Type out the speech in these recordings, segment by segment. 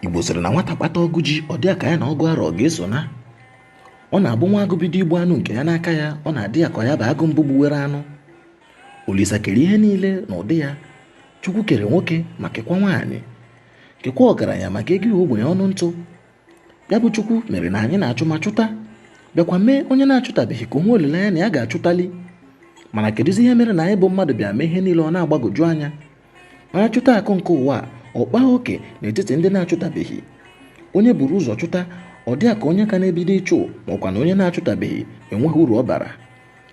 igbo sịrị na nwata kpata ọgụ ji ọ dị ka ya na ọgụ arọ ga-eso na ọ na-abụ nwa agụ bido igbu anụ nke ya n'aka ya ọ na-adị ya ka ya bụ agụ mbụ gbuwere anụ olisa kere ihe niile n'ụdị ya chukwu kere nwoke ma kekwa nwaanyị kekwa ọgaranya ma kekwuo ogbenye ọnụ ntụ ya bụ chukwu mere na anyị na-achụ ma chụta bịakwa mee onye na-achụtabeghị ka o nwee olileanya na ya ga-achụtali mana kedụzi ihe mere na anyị bụ mmadụ bịa mee ihe niile ọ na-agbagoju anya onye chụta akụ nke ụwa ọ kpaa oke n'etiti ndị na-achụtabeghị onye buru ụzọ chụta ọ dị ka onye ka na-ebido ịchụ makwa na onye na-achụtabeghị enweghị uru ọ bara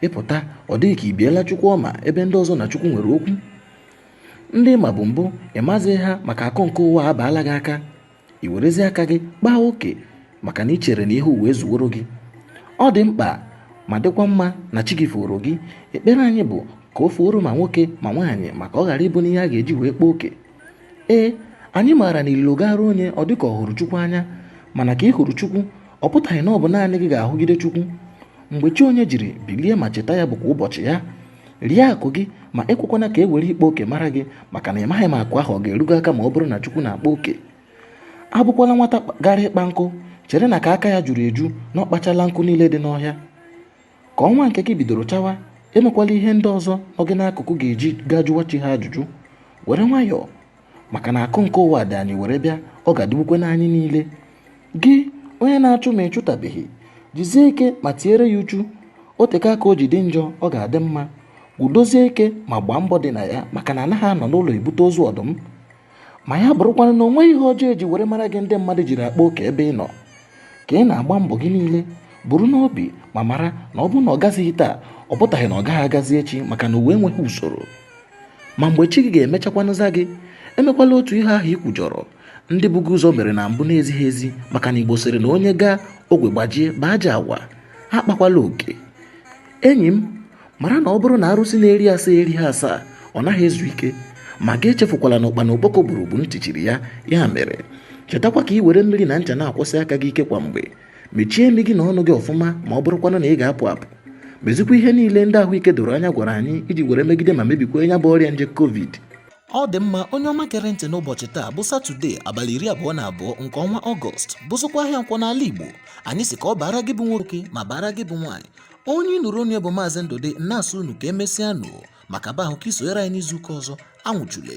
ịpụta ọ dị gị ka i biela chukwu ọma ebe ndị ọzọ na chukwu nwere okwu ndị ị mabu mbụ ị mazighị ha maka akụ nke ụwa abaala gị aka i werezi aka gị kpaa oke maka na ị chere na ihe ụwa ezuworo gị ọ dị mkpa ma dịkwa mma na chi gị foro gị ekpere anyị bụ ka o fuoro ma nwoke ma nwaanyị maka ọ ghara ịbụ n'ihe a ga-eji wee kpaa oke ee anyị maara na ililo gaara onye ọ dịka ọ hụrụ chukwu anya mana ka ị hụrụ chukwu ọ pụtaghị na ọ bụ naanị gị ga-ahụgide chukwu mgbe chi onye jiri bilie ma cheta ya bụkwa ụbọchị ya rie akụ gị ma ekwekwana ka e were ịkpa oke mara gị maka na ị maghị ma akụ ahụ ọ ga-eru gị aka ma ọ bụrụ na chukwu na-akpa oke abụkwala nwata gara ịkpa nkụ chere na ka aka ya juru eju na ọ kpachala nkụ niile dị n'ọhịa ka ọnwa nke gị bidoro chawa emekwala ihe ndị ọzọ nọ gị n'akụkụ ga-eji gaa jụwa chi ha ajụjụ were nwayọọ maka na akụ nke ụwa dị anyị were bịa ọ ga-adịgbukwe n'anyị niile gị onye na-achụ ma ị chụtabeghị jizie ike ma tiere ya uchu o teka aka o ji dị njọ ọ ga-adị mma gudozie ike ma gbaa mbọ dị na ya maka na a naghị anọ n'ụlọ ebute ozu ọdụm ma ya bụrụkwanụ na o nweghị ihe ọjọọ e ji were mara gị ndị mmadụ jiri akpa oke ebe ị nọ ka ị na-agba mbọ gị niile buru n'obi ma mara na ọ bụrụ na ọ gazighị taa ọ pụtaghị na ọ gaghị agazi echi maka na ụwa enweghị usoro ma mgbe chi gị ga-emechakwanụ zaa gị emekwala otu ihe ahụ i kwujọrọ ndị bu gị ụzọ mere na mbụ na-ezighị ezi maka na igbo sịrị na onye gaa ogwe gbajie bụ ajọ agwa akpakwala oke enyi m mara na ọ bụrụ na arụsị na-eri asaa erighị asaa ọ naghị ezu ike ma gị echefukwala na ụkpana okpoko gburu bụ ntị chiri ya ya mere chetakwa ka i were mmiri na ncha na-akwọsi aka gị ike kwa mgbe mechie imi gị na ọnụ gị ọfụma ma ọ bụrụkwanụ na ị ga-apụ apụ mezikwa ihe niile ndị ahụike doro anya gwara anyị iji were megide ma mebikwa ya bụ ọrịa nje covid ọ dị mma onye ọma gere ntị n'ụbọchị taa bụ satọde abalị iri abụọ na abụọ nke ọnwa ọgọst bụzịkwa ahịa nkwọ n'ala igbo anyị sị ka ọ baara gị bụ nwoke ma baara gị bụ nwaanyị onye ị nụrụ olu ya bụ maazị ndụdị na-asị unu ka e mesịa nụ maka ba ahụ ka i sonyere anyị n'izuụka ọzọ anwụchule